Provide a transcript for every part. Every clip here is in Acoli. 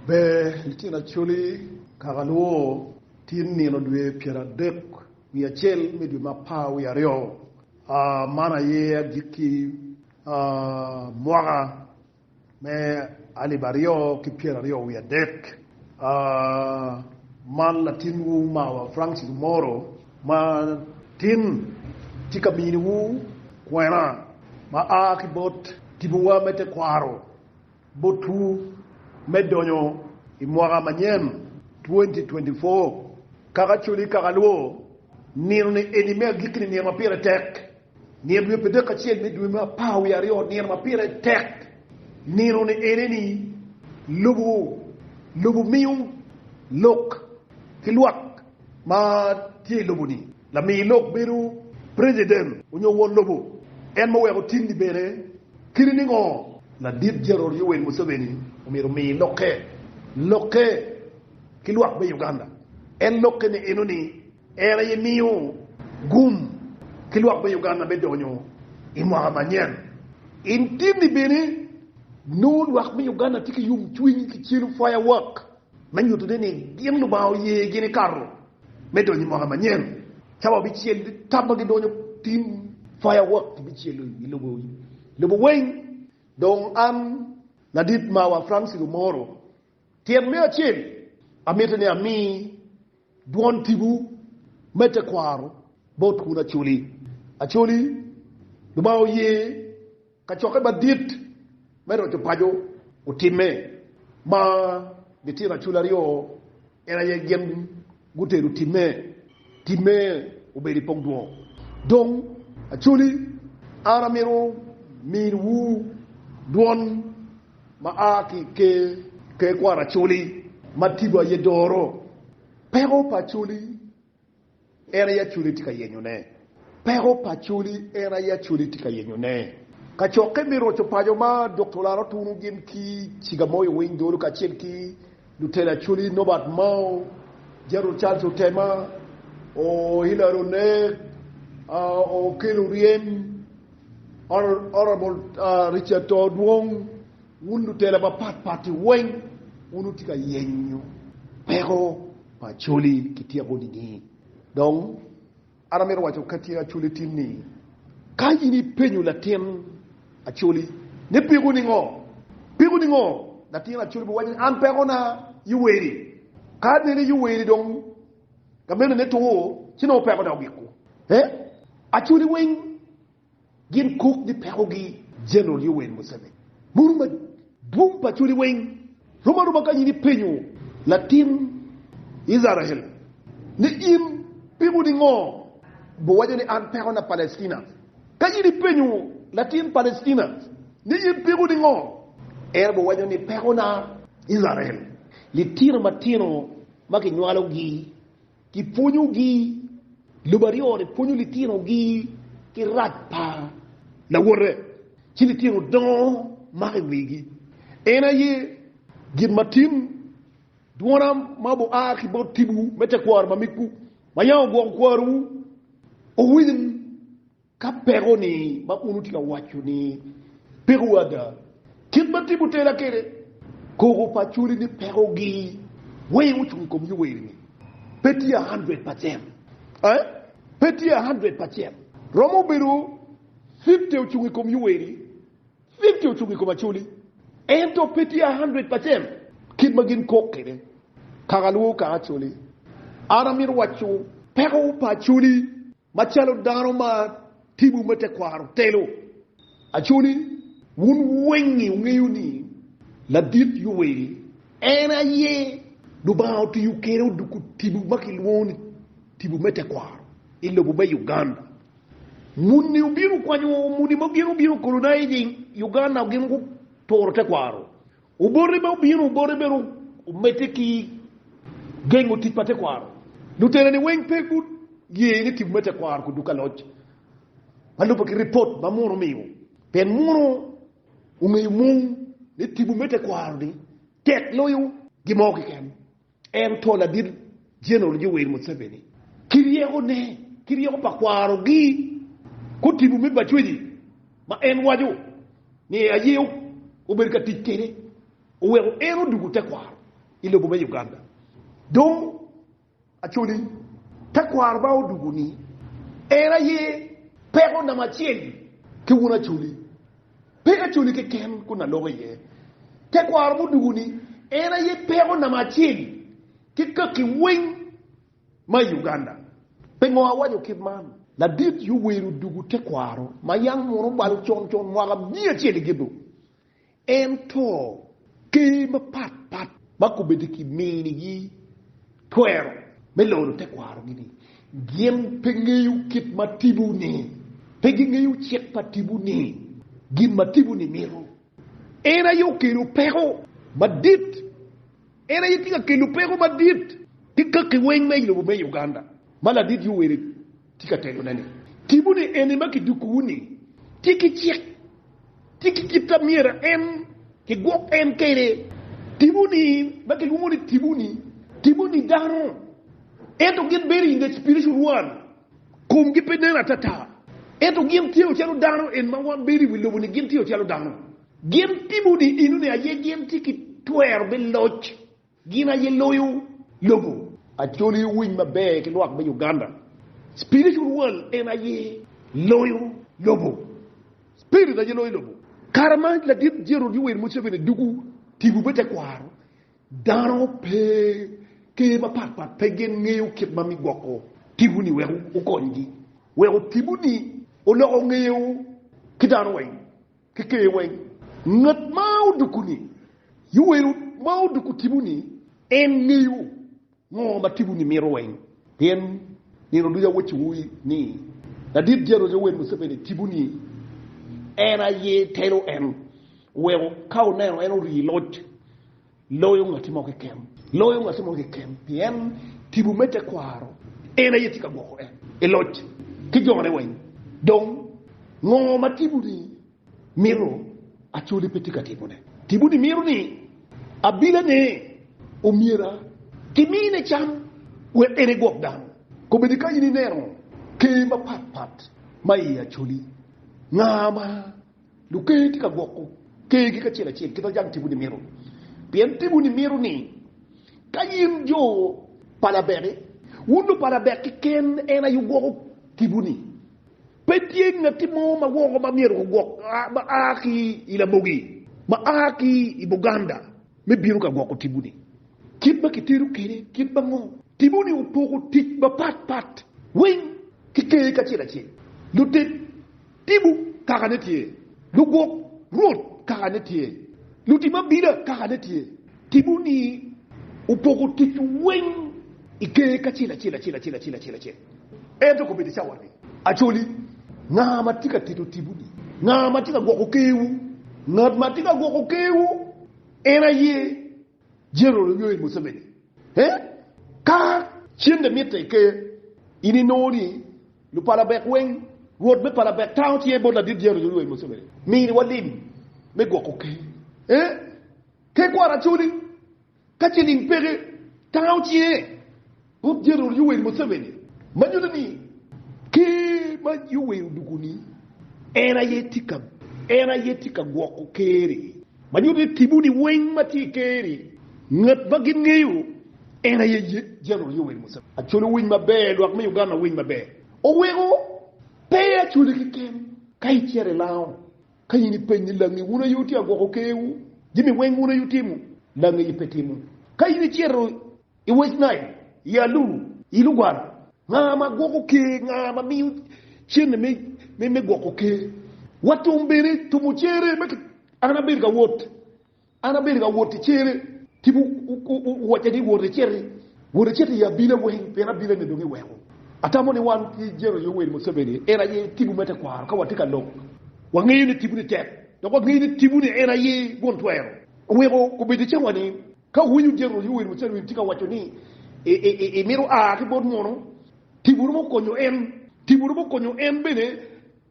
Ber litino Acholi, kaka lwor, tin nino dwe pyer adek wiye acel me dwe me apar wiye aryo, man aye agikki mwaka me alip aryo ki pyer aryo wiye adek, man latin wu mawa Francis Omoro ma tin tye ka mini wu kwena ma a ki bot tibu wa me tekwaro. Botwu me donyo i mwaka manyen 2024 kaka cul i kaka lwo, Nino-ni eni me agikki-ni nino ma pire tek, nino dwe pi dek acel me dwe me apar wiye aryo nino ma pire tek. Nino-ni eni ni lubu lubu miyo lok ki lwak ma tye i lubu-ni. Lami lok bedo preciden onyo won lobo, en ma oweko tim ni bene kadi ni ngo, Ladit Jenerol Yoweri Museveni omyero omi lokke lokke ki lwak me Uganda. En lokke ne eno ni en aye miyo gum ki lwak me Uganda me donyo I mwaka manyen. In tim ni bene nongo lwak me Uganda tye ki yom cwiny ki celo firework. me nyutone ni gin Lubanga oye gini kato me donyo i mwaka manyen. Cawa bicel ki tam ma gidonyo tim, fireworks bicelo i lobo lobo weng. Dong an, ladit mawa Francis Omoro, tyen me acel, amito ni ami dwon tipo me tekwaro bot Kun Acholi Acholi, Lubanga oye. Kacokke madit me roco paco otimme ma litino acul aryo en aye gin gutero timme. Timme obedo i pogdwo. Dong aculi, an amito miniwu dwon ma a ki i ker ker kwar aculi ma tipo aye doro peko pa aculi. En aye Acholi tye ka yenyone. Peko pa Acholi, En aye Acholi tye ka yenyone. Kacokke me roco paco ma Dokta Olaro tunu gin ki ciga mo yo winy dolo kacel ki lutela Acholi Nobert Mao, Gerald Charles Otema, O. Hillary Onek, Okello Oryem, Hon. Richard Too Dwong, Wun lutela mapat pat-ti weng, wun wutye ka yenyo peko pa Acholi ki tyeko nining? Dong, an amito waco ka tye Acholi tin ni, ka in ipenyo latin Acholi ni peko ningo? Peko ningo? Latin Acholi biwaco ni an peko na Yuweri. Ka anene Yuweri dong gamene ne two, ci nongo peko na ogiko. Ee, Acholi weng. Gin kok ni pekogi. General Yoweri Museveni bulu madwong pa culi weng rom aroma kany in ipenyo latin Icrael ni in piko ningo biwaco ni an pekona Palestina? Ka in ipenyo latin Palestina ni in piko ningo, en biwaco ni pekona Icrael, litino matino ma kinywalogi. Gipwonyogi, Lobo aryo-ni pwonyo litinogi ki rac pa lawote, ci litino dongo mako i wigi. En aye gin ma tin, dwona ma obua ki bot tibu me tekwaro mamegwu ma yam ogwoko kwarowu owil. Ka peko-ni ma un wutye ka waco ni peko ada, kit ma timo tera kwede koko pa cwali ni pekogi weng ocung i kom Yuwel-li, pe tye a hundred percent. Ae, pe tye a hundred percent. Romo bedo fifty ocung i kom Yuwel-li, fifty ocung i kom Acoli. Ento pe tye a hundred percent kit ma gin kok kwede kaka lwongo kaka Acoli. An amito waco peko pa Acoli. Macalo dano ma timwu me tekwaro telo, aco ni wun weng-ngi wungeyo ni Ladit Yowel en aye Lubanga otiyo kwede oduko tipo ma kilwongo ni tipo me tekwaro i lobo me Uganda. Muni obino kwanyo muni ma gin obino colonizing Uganda gin guturo tekwaro Obote ma obino, obote bene omedde ki gengo tic pa tekwaro. Lutela-ni weng pe guye ni tipo me tekwaro kuduku ka loc ma lubbe ki ripot ma Muno omiyo, pien Muno ongeyo mung ni tipo me tekwaro-ni tek loyo gin mo keken. Ento ladit Jeneral Yoweri Museveni ki ryekone ki ryeko pa kwarogi gutibo me Bajwedi ma en waco ni aye obedo ka tic kwede oweko en odwogo tekwaro i lobo me Uganda. Dong Acholi, tekwaro ma odwogo-ni en aye peko namba acel ki wun Acholi. Pe acoli keken kun aloko iye tekwaro mudugu ni en aye peko namba acel ki kaki weng ma i Uganda. Pingo awaco kit man? Ladit yo wer odugu tekwaro ma yam munu balo con con mwaka miya acel i Gidhu. En to Ker mapat pat ma kombeddi kiminigi twero me loro tekwarogi ni gin pe ngeyo kit ma tipo ni, pe gingeyo cik pa tipo ni, gin ma tipo ni mito. En aye okelo peko madit, en aye tye ka kelo peko madit ki kaki weng me ilobo me Uganda ma ladit Yoweri. Tye ka tegone ni, Timwu ni eni ma kidukuwu-ni tye ki cik, tye ki kit ma myero en kigwok en kwede. Timwu ni ma kilwongo ni timwu-ni, timwu ni dano, ento gin bedo i nge spiritual world, komgi pe nen atata, ento gin tye calo dano, en ma wan bedo i wi lobo-ni gin tye calo dano. Gin timwu ni eno ni aye gin tye ki twero me loc. Gin aye loyo lobo. Acholi owiny maber ki lwak me Uganda. Spiritual world en aye loyo lobo. Spirit aye loyo lobo. Kare ma ladit Gerald Yoweri Museveni dugu tipo me tekwaro, dano pe, ker mapat pat pe gin ngeyo kit ma mi gwoko tipo ni wek okonygi. Weko tipo ni oloko ngeyo ki dano weng. ki ker weng. Ngat ma odoko-ni, Yuwelo ma odoko tipo-ni, en ngeyo ngo ma tipo-ni mito weng. Pien nino ducu awacci wu ni, ladit Jeroc Yoweri Museveni tipo-ni en aye telo en oweko ka oneno en ori i loc. Loyo ngatti mo keken. Loyo ngatti mo keken, pien tipo me tekwaro en aye tye ka gwoko en i loc ki jone weng. Dong, ngo ma tiponi mito? Acholi pe tye ka tipone. Tiponi mito ni abilane omyera ki mine cam wek en egwok dano. Kobedi ka in ineno ker mapat pat ma i acholi, nga ma Luker tye ka gwoko kergi kacel acel ki dho jang timwu nimito, pien timwu nimito ni ka in jo pa Labek-ki, wun jo pa Labek keken en aye wugwoko timwu-ni. Pe tye ngatti mo ma woko ma myero gugwok ma a ki i lamogi ma a ki i Buganda me bino ka gwoko timwu-ni. Kit ma kitero kwede kit ango? Timwu-ni opoko tic mapat pat weng ki ker kacel acel. Lutit. Tipo kaka ne tye. Lugwok Rwot kaka ne tye. Lutim abila kaka ne tye. Tipo ni opoko tic weng i ger kacel acel acel acel acel acel acel. Ento kobedo i cawa ni, Acoli, nga ma tye ka tito tipo ni? Nga ma tye ka gwoko ker wu? Ngat ma tye ka gwoko ker wu en aye. General Yoweri Museveni, ee, ka cente mitte i ker, in inongo ni lupalabek weng, rwot me palabek tango cinge bot ladit General Yoweri Museveni, mini walim me gwoko ker, ee, tekwaro Acholi, ka ciling peke, tango cinge. Rwot Jeneral Yoweri Museveni ma nyuto ni Ker ma Yoweri odwogo ni en aye tye ka gwoko Ker-ri ma nyuto ni tipo-ni weng ma tye i Ker-ri ngat ma gin ngeyo en aye Jeneral Yoweri Museveni. Acwalo winy maber lwak me Uganda winy maber oweko pe acwale keken ka icito i lango ka in ipeny ni langi wun aye wutye ka gwoko Ker-wu jami weng wun aye wutimo langi pe timo ka in icito I West Nile, i Alur, i Lugwara, nga ma gwoko ker, nga ma miyo cente me gwoko ker, wa tum bene tumo cere ma an abedo ka wot, an abedo ka wot i cere, tipo wocca ni wot eciti, wot eciti i abila weng pien abila ni dong iweko. Atamo ni wan ki General Yoweri Museveni en aye tipo me tekwaro ka watye ka lok, wa ngeyo ni tipo ni tek dok wa ngeyo ni tipo ni en aye gwon twero, oweko obedo cawa ni Ka wuwinyo jami ma Yoweri Museveni tye ka waco ni imito a ki bot munu, tipo romo konyo en. Tipo romo konyo en bene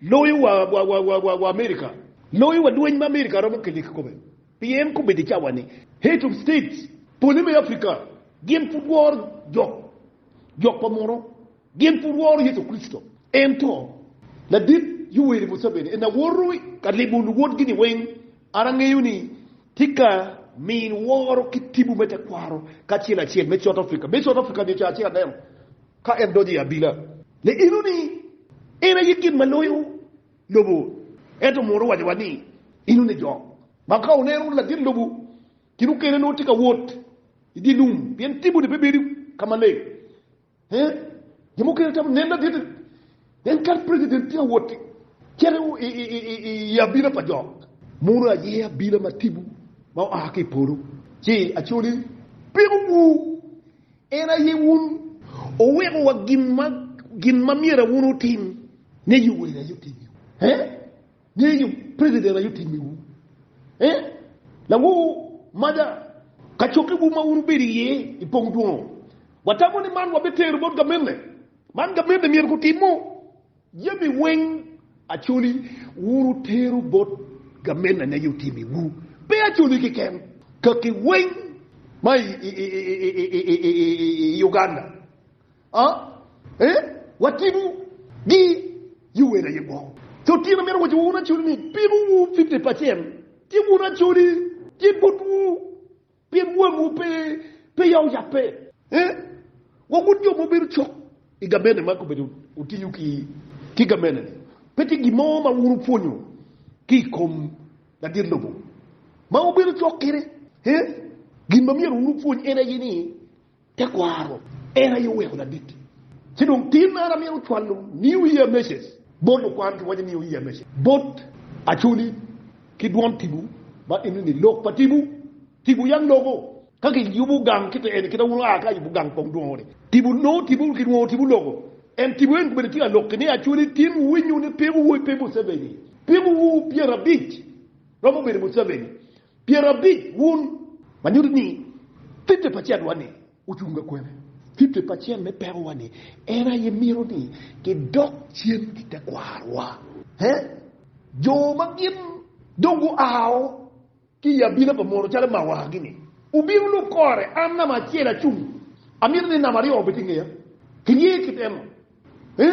loyo wa Amerika, loyo wa lweny ma Amerika romo kelo i kikome. Pien kombeddi i cawa-ni, Head of States pole me Afrika gin pud woro jok pa munu. Gin pe woro Yecu Kricito, ento ladit Yoweri Museveni en aye woto ka limo luwotgi-ni weng. An angeyo ni tika min woro ki tibu me tekwaro kacel acel me South Africa, me South Africa nyo Caa-ci Aneno ka en donyo i abila, le eno ni en aye gin ma loyo lobo. Ento munu waco wa ni eno ni jo ma ka oneno ladit lobo kin okene nongo tye ka wot i dye lum pien tibu-ni pe bedo ka maleng. Ee, jo mukene tamo nen aditi. Pien kadi president tye ka wot ki cito i abila pa jo. Munu aye abila ma tipo ma oa ki i polo, ci aco ni, Pikuwu, en aye wun owikowa gin ma myero wun wutim, ni Yoweli aye otimiwu. Ee. Ngeyo nyo president aye otimi wu eh lango mada kacokke wu ma wun wubedo iye i pong dwongo. Watamo ni man wabitero bot gamente. Man gamente myero gutimo jami weng acoli wun wutero bot gamente ane aye otimi wu. Pe acoli keken, kaki weng ma i Uganda. Ah, ee, watino gi i wer aye gwoko. Co tyen amito waco wa wun acoli ni piko wu fifty percent ci wun acoli ci but wu pien wang wu pe pe yao yape ee wa wun jo ma wubedo cok i gabene ma kobedo wutiyo ki ki gabene ni pe tye gin mo ma wun wupwonyo ki i kom ladit lobo ma wubedo cok kede ee gin ma myero wun wupwony en aye ni Tekwaro, En aye oweko ladit. Ci dong tin man amito cwalo New Year Message bot lukwan, kiwaco New Year Message bot Acholi ki dwon Tibu ma eno ni, Lok pa Tibu, Tibu yam loko. Ka kiyubo gang kite eni, kita wun oa ka ayubo gang kong dwongo ni, Tibu nongo Tibu ki dwongo Tibu loko. En Tibu eni komedo tika lok ki ni, Acholi tin wuwinyo ni pimo wu pe Museveni, pimo wu pyerabic romo bedo Museveni. Pyerabic wun, ma nyuto ni fifty percent wa-ni ocung ka kwene? Fifty percent me peko wa-ni en aye mito ni kidok cen ki tekwarowa. He? Jo ma gin dong guao ki i abina pa mono calo ma awagi-ni, wubino lub kore. An namba acel acung, amito ni namba aryo obed i ngeya. Kiye kit eno. He?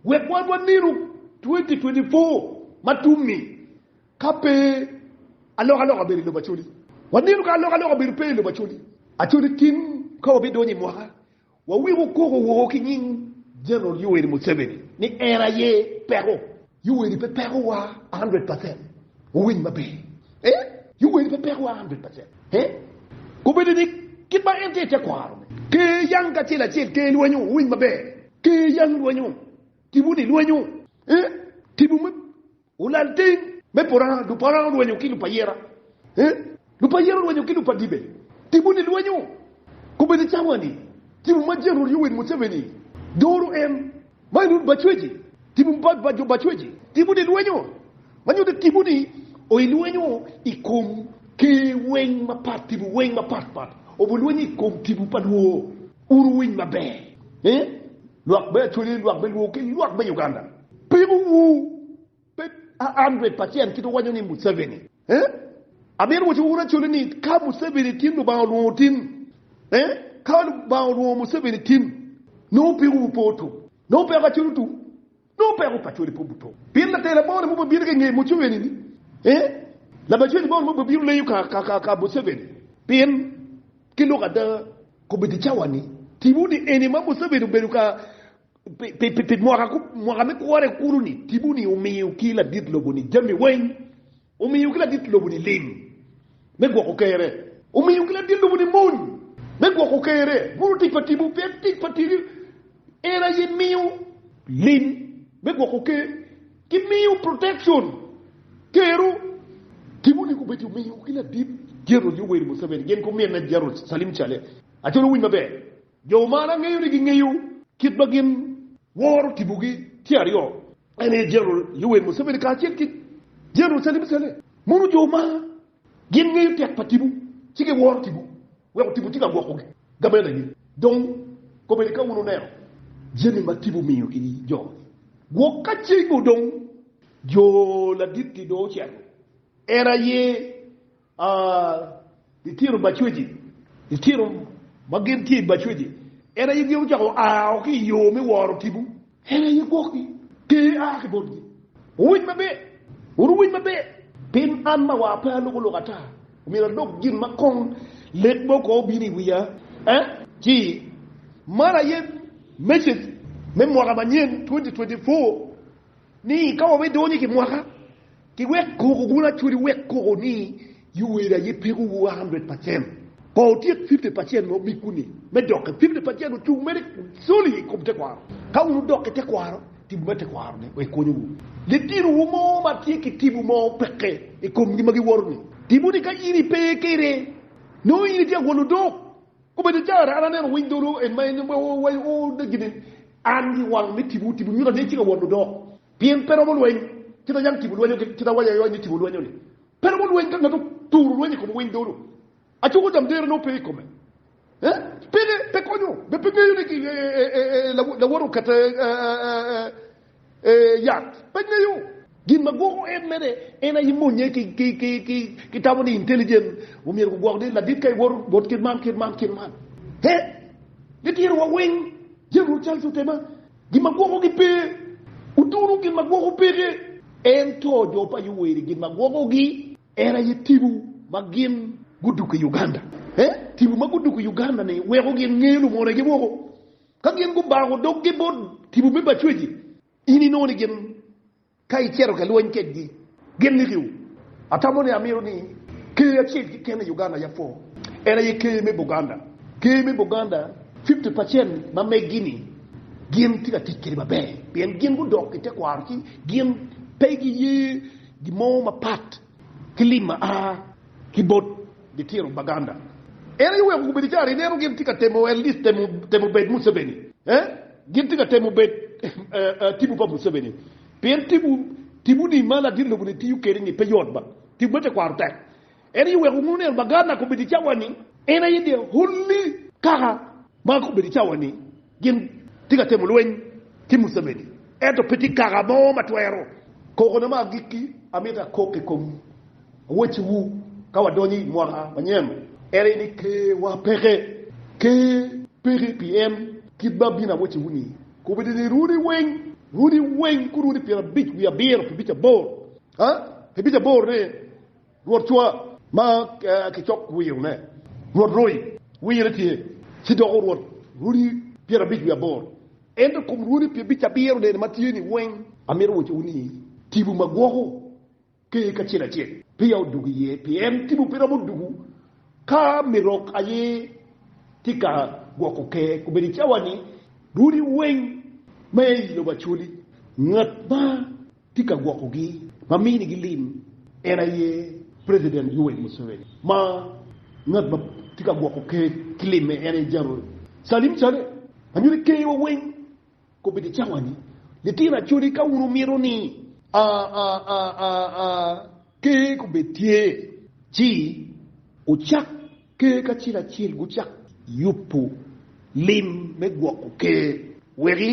Wek wan wanenu twenty twenty four ma tum-mi. Ka pe alokaloka obedo i lobo Acholi, wanino ka alokaloka obedo pe i lobo Acholi. Acholi tin ka wabidonyo i mwaka, waweko koko woko ki nying General Yoweri Museveni ni en aye peko. Yoweri pe peko wa hundred percent, wawiny maber eh, Yoweri pe peko wa hundred percent eh, kobedo ni kit ma en tye i tekwaro ne, Ker yang kacel acel, Ker lwenyo, wawiny maber, Ker yang lwenyo, Tibu ni lwenyo eh, Tibu me Olal teng me pora, lupora olwenyo ki lupayera, lupayera olwenyo ki lupadibe, tipo ni lwenyo kobedi cawa ni tipo ma General Yoweri Museveni doro en ma enun bacweci, tipo pa jo bacweci, tipo ni lwenyo ma nyuto tipo ni oyi lwenyo i kom ker weng mapat, tipo weng mapat pat obu lwenyo i kom tipo pa lwor. Wun wuwiny maber ni lwak me Australia lwak me Luo ki lwak me Uganda pimo wu pe a hundred percent kit wuwanyo ni Museveni eh? Amito waco wun Australia ni ka Museveni tin Lubanga olwongo tin eh? Ka Lubanga olwongo Museveni tin nongo piko wupe otum nongo peko Australia otum. Nongo peko pa cwali pe obuto. Pien later labongo-ni mogo bino ki i nge Muceveni-ni, ee, labacwedi bongo-ni mogo bino leyo ka Museveni. Pien, ki lok ada, kobeddi i cawa-ni, tipo ni eni ma Museveni obedo ka pi mwaka me kwone kulu-ni, tipo ni omiyo ki ladit lobo-ni jami weng. Omiyo ki ladit lobo-ni lim me gwoko kerre, omiyo ki ladit lobo-ni mony me gwoko kerre, mono tic pa timwu pe en tic pa tiri? En aye miyo lim me gwoko ker, ki miyo protection kerru. Timwu-ni gubedo omiyo ki ladit General Yoweri Museveni gin gumine General Salim Cale. Acol wuwiny maber, jo man angeyo ni gingeyo kit ma gin woro timogi tye aryo, En aye General Yoweri Museveni kacel ki General Salim Saleh. Mono jo ma gin ngeyo tek pa tipo ci giworo tipo weko tipo tye ka gwoko gamenagi. Dong komedi ka wun wuneno jami ma tipo miyo ki jo gwok ka cego dong jo ladit-ti dong ocito. En aye A Litino bacweci, Litino ma gin tye i bacweci, en aye gin ocako a o ki i yo me woro tipo. En aye gwokgi, ter a ki botgi. Wuwiny maber, wun wuwiny maber, pien an ma wa pe aloko lok ata, omyero adok gin ma kong lek mo ko obino i wiya. A Ci, man aye message me mwaka manyen 2024 Ni ka wa bidonyo i kimwaka, ki wek koko wun acwali wek koko ni yuweri aye peko wu 100 percent, ko wutyek 50 percent ma omigwu ni me doke, 50 percent ocung mere solid i kom tekwaro. Ka wun wudok ki tekwaro, tipo me tekwaro ni wek konyo wu. Litino wu mo ma tye ki tipo mo peke i kom gi ma giwoto ni, tipo ni ka in ipe kede, nongo in itye agwel odok. Obedo caro an aneno winy dolo en ma en owaco gin ni, An gi wang me tipo tipo nyuta ni ecika won odok, pien pe romo lweny kit ma yam tipo lwenyo kit awaco aoc ni tipo lwenyo ni. Pe romo lweny ka ngat oturo lweny i kom winy dolo, acuko jam dero nongo pe i kome. Peke pe konyo, be pe ngeyo ni lawot okete? Ee, yat pe ngeyo. Gin ma gwoko en mere en aye monye ki tamo ni intelligent. Omyero gugwok ni ladit ka iwoto wot kit man, kit man, kit man. He, gitiro wa weng. General Charles otema. Gin ma gwokogi pe. Utunu gin ma gwoko peke. Ento jo pa Yoweri gin ma gwokogi en aye tibu ma gin guduko i Uganda. He, tibu ma guduko i Uganda ni weko gin ngeyo lumone gi woko. Ka gin gubako doggi bot tipo me bacweci, in inongo ni gin ka icito ka lweny kedgi, gin nikiwu. Atamo ni amito ni Ker acel keken i Uganda yam pwo, en aye Ker me Buganda. Ker me Buganda, fifty percent ma meggi-ni gin tye ka tic kwede maber pien gin gudok i tekwaro ci gin pe giye gin mo mapat. Clip ma a ki bot Litiro Baganda. En aye oweko gubedo caro ineno gin tye ka temo at least temo bed Museveni eh gin tye ka temo bed tibu pa Museveni pien tibu tibu ni ma ladit lobo ni tiyo kede ni pe yot ba tibu me tekwaro tek en aye oweko nongo neno Baganda kobedo cawa ni en aye the only kaka Ma ka obedo i cawa-ni gin tye ka timo lweny ki Museveni, ento pe tye kaka mo ma twero. Kokona ma agikki amito akok i kom awocewu ka wadonyo i mwaka manyen ene ni Ker-wa peke. Ker peke pien kit ma bino awocewu-ni kobedo ni runi weng, runi weng, ku runi pyerabic wiye abiro pi bic aboro, aa, pi bic aboro-ne. Rwot cwa ma kicok wiyo ne rwot roi, wiye ne tye ci doko rwot runi pyerabic wiye abor. Ento kom runi pyebic abiro nene ma tye ni weng amito woco wu ni tibu ma gwoko ker kacel acel peya odugo iye, pien tibu pe romo dugo ka mirok aye tye ka gwoko ker. Kobedo icawani runi weng ma i lobo acoli ngat ma tye ka gwokogi ma minigi lim en aye President Yoweri Museveni ma ngat ma tye ka gwoko ker ki limme en aye General Salim Saleh anyo ni ker wa weng kobedo i cawa ni litino acholi ka wun wumito ni a a a a a Ker kobed tye, ci wucak ker kacel acel gucak yubo lim me gwoko ker wek i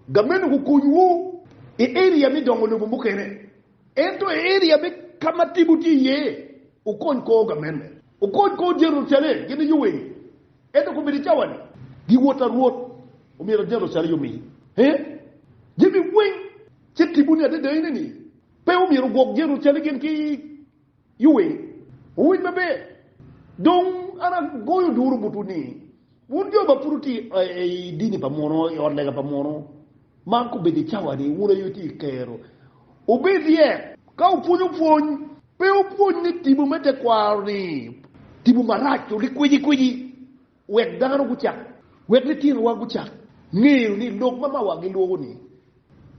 gameno gukonywu i area me dongo lobo mukene. Ento i area me ka ma timwu tye iye, wukony kor gameno, wukony kor Jerucalem gin i yo eni. Ento kobed i cawa-ni, giwot arwot, omyero Jerucalem omi jami weng ce timwu ni adada enini, Pe omyero wugwok Jerucalem gin ki yuwe. Wuwiny maber! Dong an agoyo duru botwu ni, wun jo ma pud wutye i dini pa muno, i ot lega pa muno, man kobedo i cawa-ni, wun aye wutye i kero. Wubed ryek ka wupwonyo pwony. Pe wupwony ni tipo me tekwaro-ni tipo marac, olik kwicikwici. Wek dano gucak. Wek litinowa gucak ngeyo ni lok ma mawa gilwoko-ni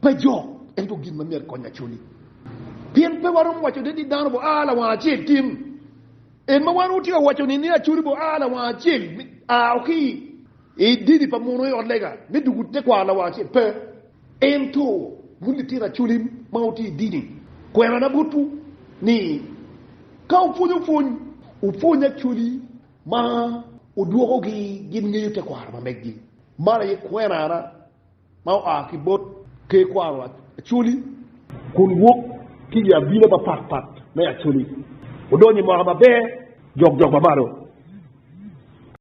pe jok, ento gin ma myero ekony acoli. Pien pe waromo waco de ni dano bo a lawang acel tin. En ma wan watye ka waco-ni ni acoli bo a lawang acel a o ki i dini pa muno i ot lega me duku tekwaro lawang acel, pe. Ento wun litino acoli ma wutye i dini, kwerana botwu ni ka wupwonyo pwony, wupwony acoli Ma odwokogi gin ngeyo tekwaro ma meggi, man aye kwenana ma oa ki bot Ker Kwaro Acholi, kun wok ki i abina mapat pat me Acholi, odonyo i mwaka maber jokjok ma malo.